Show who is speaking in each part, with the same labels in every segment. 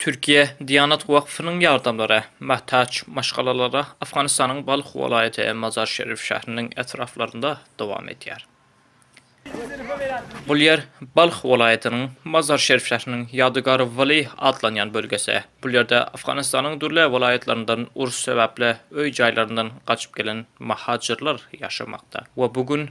Speaker 1: Türkiýe Diýanat Wakfynyň ýardamlara mätäç maşgalalara Afganistanyň Balh welaýaty Mazar Şerif şähriniň etraplarynda dowam edýär. Bu ýer Balh welaýatynyň Mazar Şerif şähriniň Ýadygar Wali atlanýan bölgesi. Bu ýerde Afganistanyň dürli welaýatlaryndan uruş sebäpli öý-jaýlaryndan gaçyp gelen mahajirler ýaşamakda we bu gün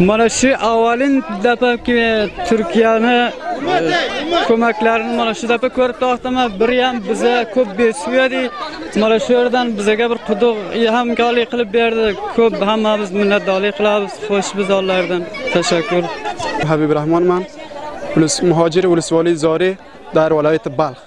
Speaker 2: Mana şu awalyn dapaki Türkiýäni kömeklerini mana şu dapa körüp dostuma bir ýam bize köp besýedi. Mana şu ýerden bizege bir kudyk ýam galy kylyp berdi. Köp hamma biz minnetdarlyk kylabys. Hoş biz Allahdan. Teşekkür. Habib
Speaker 3: Rahman man. Ulus muhajir ulus wali zori dar walaýaty Balh.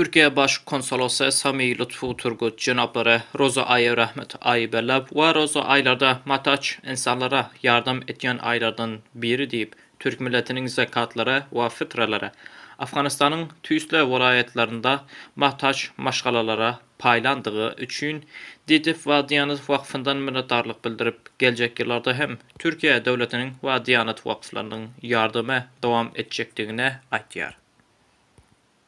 Speaker 3: Türkiýe
Speaker 1: Baş konsolosy Sami Lutfu Turgut jenaplary roza aýy rahmet aýy belläp we roza aýlarda mataç ynsanlara ýardam etýän aýlardan biri diýip, türk milletiniň zekatlary we fitralary Afganystanyň tüýsli welaýatlarynda mataç maşgalalara paýlandygy üçin Diýdip we Diýanat wakfyndan minnetdarlyk bildirip, geljek ýyllarda hem Türkiýe döwletiniň we Diýanat wakflarynyň ýardamy dowam etjekdigini aýtýar.